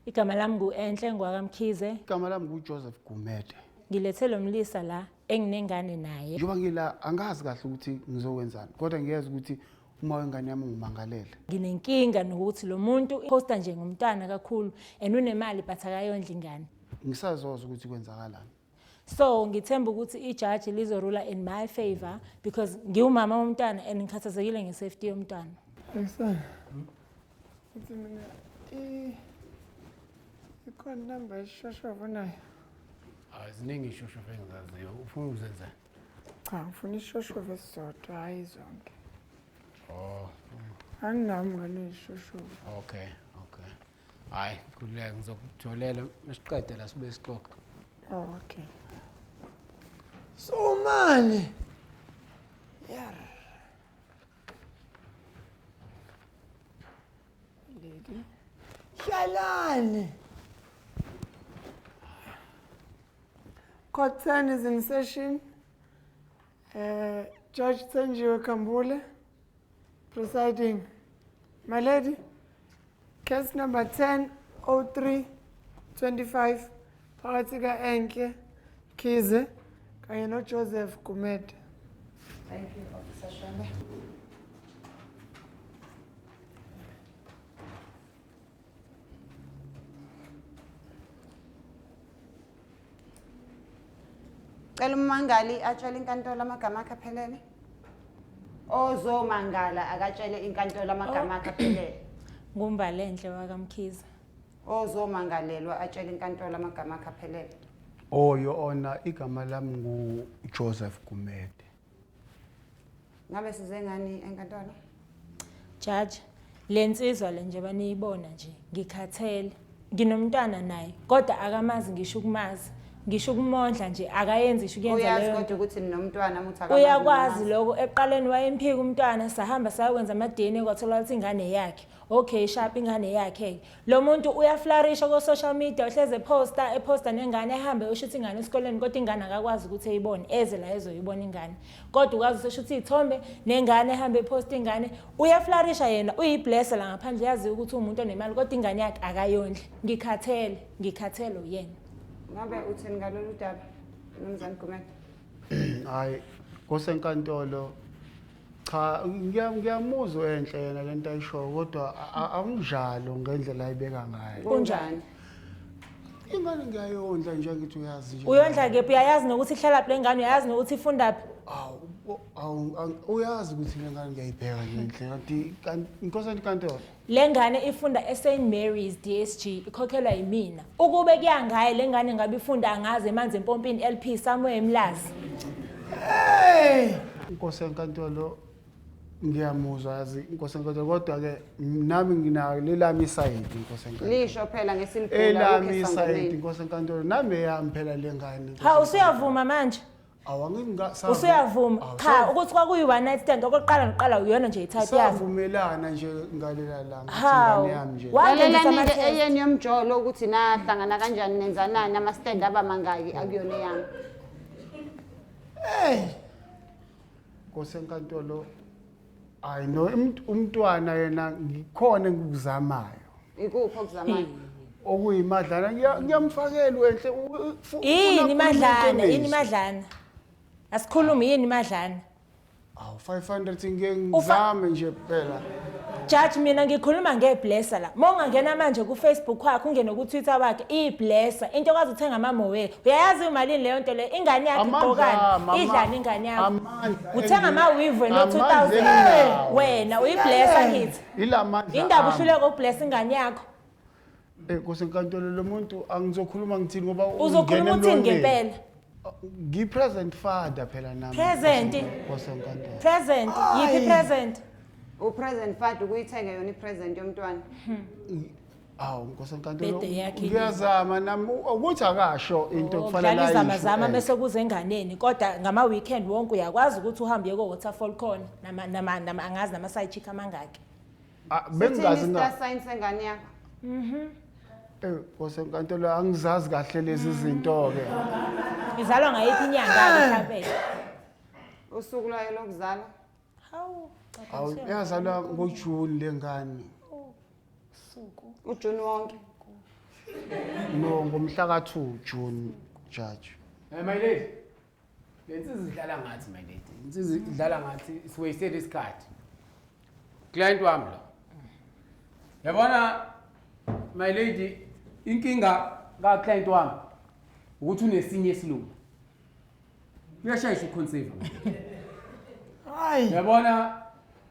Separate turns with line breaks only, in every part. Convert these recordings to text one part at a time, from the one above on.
Igama lami ngu-Enhle Ngwaka Mkhize. Igama lami nguJoseph
Gumede. Ngilethe lo mlisa
la enginengane naye. Njengoba ngila angazi
kahle ukuthi ngizokwenzani kodwa ngiyeza ukuthi uma wengane yami ungimangalele. Nginenkinga
nokuthi lo muntu posta nje ngomntwana kakhulu and unemali but akayondla ingane. Ngisazoza ukuthi
kwenzakalani. so
ngithemba ukuthi ijaji lizorula in my favor because ngiwumama womntwana and ngikhathazekile nge-safety yomntwana ayisana
uthi mina ikhona inamba yesishoshovu nayo hayi
ziningi ishoshovu engizaziyo ufuna ukuzenzani cha ngifuna
ishoshovu esizodwa hhayi zonke
oh
anginami ngane ishoshovu okay
hayi khululeka ngizokujolela mesiqede la sibe sixoxa Oh, okay.
So manje yar Lady. Hlalani. Cotton is in session. Uh, Judge Tsenjiwe Kambule, presiding. My lady, case number 1003 25 phakathi ka-Enhle Khize kanye noJoseph Gumede. Thank you, Officer
Shembe. Cela ummangali atshele inkantolo amagama akhe aphelele. Ozomangala akatshele inkantolo amagama akhe aphelele. Ngumbalenhle
wakamkhize. Ozomangalelwa
atshele inkantolo amagama akhe aphelele. Oyo
ona igama lami nguJoseph Gumede.
ngabe size ngani enkantolo
jaji le nsizwa le njengoba niyibona nje ngikhathele nginomntwana naye kodwa akamazi ngisho ukumazi ngisho ukumondla nje akayenzi isho kuyenza uyazi leyo kodwa ukuthi ninomntwana
muthi akamazi uyakwazi ninazi. lokho
ekuqaleni wayemphika umntwana sahamba sayokwenza ama-dna kwatholakala ukuthi ingane yakhe okay shapha ingane yakhe-ke Lo muntu uyaflarisha ko social media uhleze eposta eposta nengane ehambe ushutha ingane esikoleni kodwa ingane akakwazi ukuthi eyibone eze la ezoyibona ingane kodwa ukwazi useshutha izithombe nengane ehambe eposta ingane uyaflarisha yena uyiblesse la ngaphandle uyaziwa ukuthi umuntu onemali kodwa ingane yakhe akayondle ngikhathele ngikhathele uyena ngabe uthini
ngalolu daba nomzane Gumede hayi
kosenkantolo Cha ngiya- ngiyamuzwa enhle yena lento ayishoyo kodwa a- a- akunjalo ngendlela ayibeka ngayo. kunjani Ingane ngiyayondla nje ngithi uyazi nje. uyondla kephi uyayazi nokuthi
ihlalaphi le ngane uyayazi nokuthi ifundaphi Awu bo- awu ang- uyazi
ukuthi le ngane ngiyayibheka ngenhle kanti kanti inkosana inkantolo. Lengane ifunda
eSt Mary's DSG ikhokhelwa yimina. Ukube kuyangaye lengane ngabe ifunda angazi emanzi empompini LP somewhere eMlazi. Hey!
Inkosi
enkantolo ngiyamuzwa yazi inkosi enkantolo kodwa ke nami nginayo lelami isayidi inkosi enkantolo. Lisho phela ngesimkhulu
Elami isayidi
inkosi enkantolo nami eyami phela lengane. Ha usuyavuma
manje? awu angeke ngika-
usuyavuma Awu,
cha sa- ukuthi kwakuyi one night stand okokuqala nokuqala uyona nje i-type yami savumelana nje
ngalela langa Hawu. ingane yami nje Wa-
Wangenzisa
lalelani-ke ama-test. eyenu
yomjolo ukuthi nahlangana kanjani nenzanani ama-stand aba mangaki akuyona eyami
nkosi enkantolo hayi no umt- umntwana yena ngikhona engikuzamayo ikuphi
okuzamayo okuyimadlana
ngiya- ngiyamfakela wenhle u- u- fu- ufuna yini ukukhuluma madlana
iqiniso. yini madlana asikhulume yini madlana awu 500
ngeke ngizame nje phela jaji mina
ngikhuluma ngeblessa la ma ungangena manje kufacebook wakhe ungene kutwitter wakhe iyiblessa into okwazi uthenga amamowe uyayazi imalini leyo nto leyo ingane yakhe Amandla, igqokani mama. idlani ingane yakho Am- uthenga ama-weave wena Amanzi 2000 eninawo. wena uyiblessa kithi Ila mandla indaba ami.
uhluleka ukublessa
ingane yakho Eh, Nkosi
enkantolo lo muntu angizokhuluma ngithini ngoba uzokhuluma ungena uthini emlonyeni.
ngempela Ngi-present
father phela nami. Present. Nkosi
enkantolo.
present yiphi
present upresent
fat ukuyithenga yona ipresent yomntwana
awu nkosi enkantolo Bhede yakhe yini? ngiyazama
nami
ukuthi akasho into kufanele Dlala izama ayisho, zama eh. mese kuze
enganeni kodwa ngama weekend wonke uyakwazi ukuthi uhambe ko waterfall khona nama nama nama angazi nama side chick amangaki. Ah, Sithini bengingazi
na i-star sign sengane
yakho Eh, nkosi
enkantolo angizazi kahle lezi zinto ke Izalwa
ngayiphi inyanga mhlawumbe?
usuku lwayo lokuzalwa
Hawu, Awu caphela
yazalwa ngoJune lengane. usuku.
ujuni wonke
No ngomhla ka2 June judge. Eh my lady.
Lensizi idlala ngathi my lady. Lensizi idlala ngathi is wasted isikhathi. Client wami lo. Yabona my lady inkinga ka client wami ukuthi unesinye isilungu. uyashayisha uconceive
hayi yabona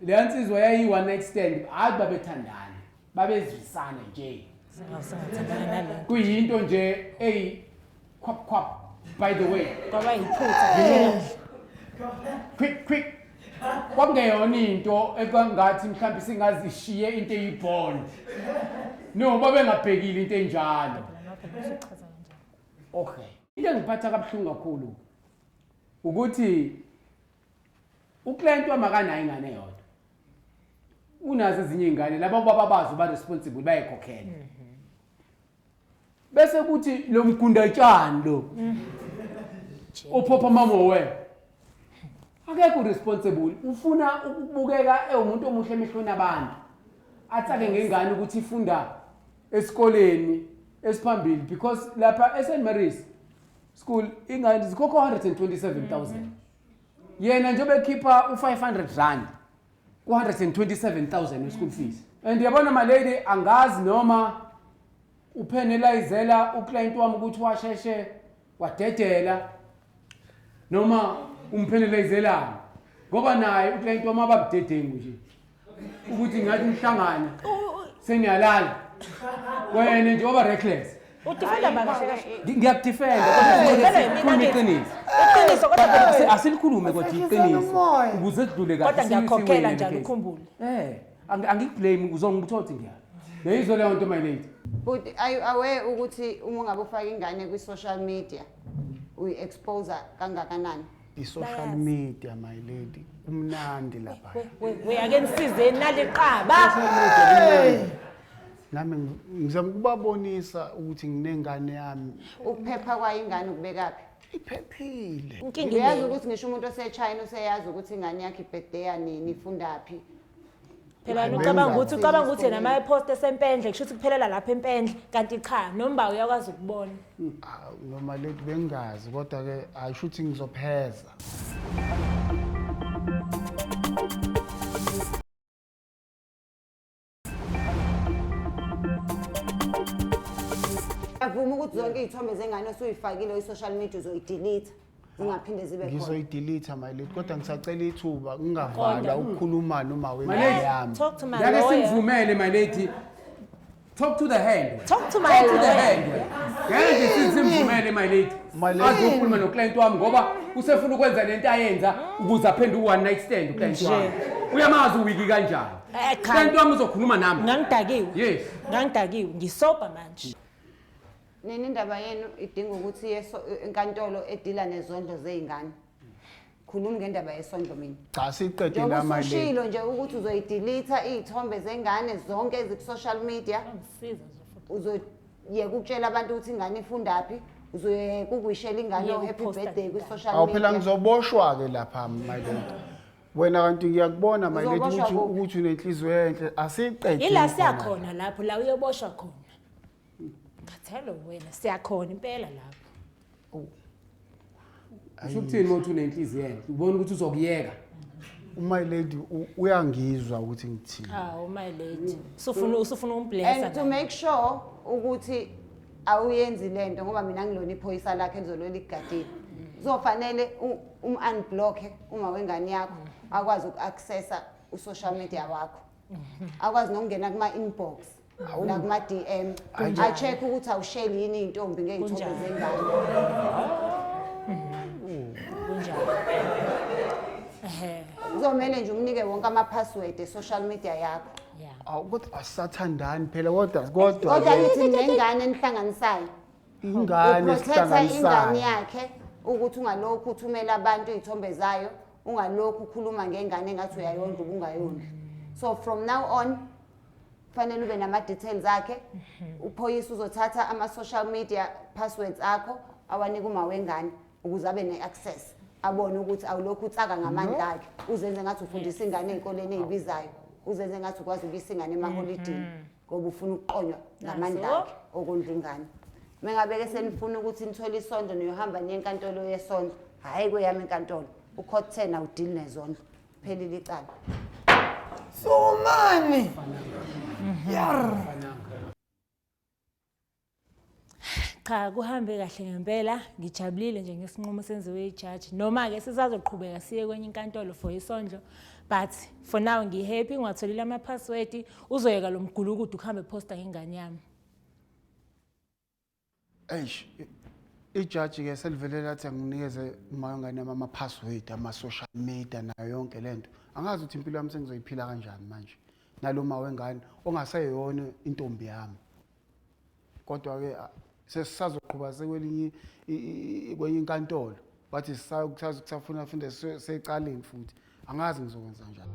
leya nsizwa yayi-one night stand hhayi babethandana babezwisana nje
kuyinto nje
eyi khwap khwap by the way kwaba yiphutha quick quick kwakungeyona into ekwangathi mhlawumbe singazishiye into eyibond no babengabhekile into enjalo okay into engiphatha kabuhlungu kakhulu ukuthi uclient wamakanayo ingane yodwa unazo ezinye iy'ngane laba ubaba bazo ba-responsible bayekhokhela mhm. bese kuthi lo mgundatshani lo ophopha mama we akekho responsible ufuna ukubukeka ewumuntu omuhle emehlweni abantu atsake ngengane ukuthi ifunda esikoleni esiphambili because lapha eSt Mary's school ingane zikhokha 127000 yena njengoba ekhipha u500 rand ku127000 school fees and yabona my lady angazi noma uphenelizela uclient wami ukuthi washeshe wadedela noma umphenelezelana ngoba naye uklient wami ababudedengu nje ukuthi ngathi umhlangana seniyalala wena nje oba reckless udifenda bakahle
kahle Ngi- ngiyakudifenda kodwa
iqiniso
iqiniso
kodwa Asi-
ngiyakhokhela. asilikulume kodwa
Asikhiseni iqiniso umoya. ukuze sidlule kahle kodwa siyi- ngiyakhokhela siwine njalo le case.
ukhumbule Eh. Angi- angikublame
uzongiba ukuthi othi ngiyala neyizwe leyo nto my lady But are you
aware ukuthi uma ungabe ufaka ingane kwi-social media uyi-expose kangakanani? i-social
media my lady kumnandi lapha Uyake
nisizeni naliqaba.
nami ngi- ngizama ukubabonisa ukuthi nginengane yami Ukuphepha kwayo
ingane ukubekaphi?
iphephile inkinga uyazi inengi ukuthi
ngisho umuntu
osechina useyazi ukuthi ingane yakhe ibhedeya nini ifundaphi phela
yena ucabanga ukuthi ucabanga ukuthi yena uma epost esempendle kusho ukuthi kuphelela lapha empendle kanti cha nomba uyakwazi ukubona Ah, noma
leti bengazi kodwa ke ayisho ukuthi ngizopheza
Avuma ukuthi zonke izithombe zengane osuyifakile kwi-social media uzoyidelete zingaphinde zibe khona. ngizoyidelete my lady
kodwa ngisacela ithuba ngingavala ukukhuluma noma My wengane lady. yami Talk to my Ngeke lawyer.
simvumele my lady.
Talk to the hand. Talk
to my Talk to the lawyer.
hand. Ngeke nje si- simvumele my lady. My lady. Azokhuluma no client wami ngoba usefuna ukwenza lento ayenza ukuze aphendule one night stand u client wami. Uyamazi uwiki kanjani? Eh, cha. Kanti wami uzokhuluma nami. ngangidakiwe Yes.
ngangidakiwe
ngisobha
manje nini
indaba yenu idinga ukuthi iye so- enkantolo edila nezondlo zey'ngane khulumi ngendaba yesondlo mina cha siqedile njengoba
amali usushilo nje ukuthi
uzoyidilitha iy'thombe zengane zonke eziku-social media angisiza nje futhi
uzoyeka ukutshela
abantu ukuthi ingane ifundaphi uzoyeka ukuwishela ingane Yeka o-happy ukuposta birthday ngengane. kwi-social awu phela media ngizoboshwa-ke lapha
my lady wena kanti ngiyakubona my lady Uzoboshwa ukuthi kuphi? ukuthi unenhliziyo enhle asiqede yila siya khona. khona
lapho la uyoboshwa khona khathele wena siya khona impela lapho usho
ukuthini uma uthi unenhliziyo enhle ubona ukuthi uzokuyeka my
lady u- uyangizwa ukuthi ngithini awu my lady
usufuna usufuna umblesa and to make sure
ukuthi awuyenzi lento ngoba mina ngilona iphoyisa lakhe elizolwela ikugadile kuzofanele um-unblocke uma wengane yakho akwazi uku-accessa u-social media wakho akwazi nokungena kuma-inbox nakuma-dm a-check-e ukuthi awusheli yini iy'ntombi ngey'thombe zengane
kuzomele
nje umnike wonke ama-password e-social media yakho Yeah. Awu kodwa
asathandani phela kodwa kodwa kodwa ke nithi
nengane enihlanganisayo ingane
uprothetha ingane
esihlanganisayo. yakhe ukuthi ungalokhu uthumela abantu iy'thombe zayo ungalokhu ukhuluma ngengane engathi uyayondla ubungayondli so from now on kufanele ube nama-details akhe uphoyisa uzothatha ama-social media passwords akho awanike uma wengane ukuze abe ne-access abone ukuthi awulokhu utsaka ngamandla akhe uzenze ngathi ufundisa ingane ey'koleni ey'bizayo uzenze ngathi ukwazi ukuyisa ingane emaholidini mm-hmm. ngoba ufuna ukuqonywa ngamandla akhe okondla ingane mengabeke senifuna ukuthi nithole isondlo niyohamba niye enkantolo yesondlo hhayi kweyami inkantolo ukhot ten awudili nezondlo phelile icala sumani
yar
cha kuhambe kahle ngempela ngijabulile nje ngesinqumo senziwe ijaji noma-ke sisazoqhubeka siye kwenye inkantolo for isondlo but for now ngihappy ngiwatholile amaphaswedi uzoyeka lo mgulukudu kuhambe phosta ngengane yami
eish ijaji-ke selivele lathi anginikeze umayongane yami amaphaswedi ama-social media nayo yonke le nto angazi ukuthi impilo yami sengizoyiphila kanjani manje naloma wengane ongaseyona intombi yami kodwa ke sesisazoqhuba sekwelinye kwenye inkantolo wathi sisafuna funda secaleni futhi angazi ngizokwenza njani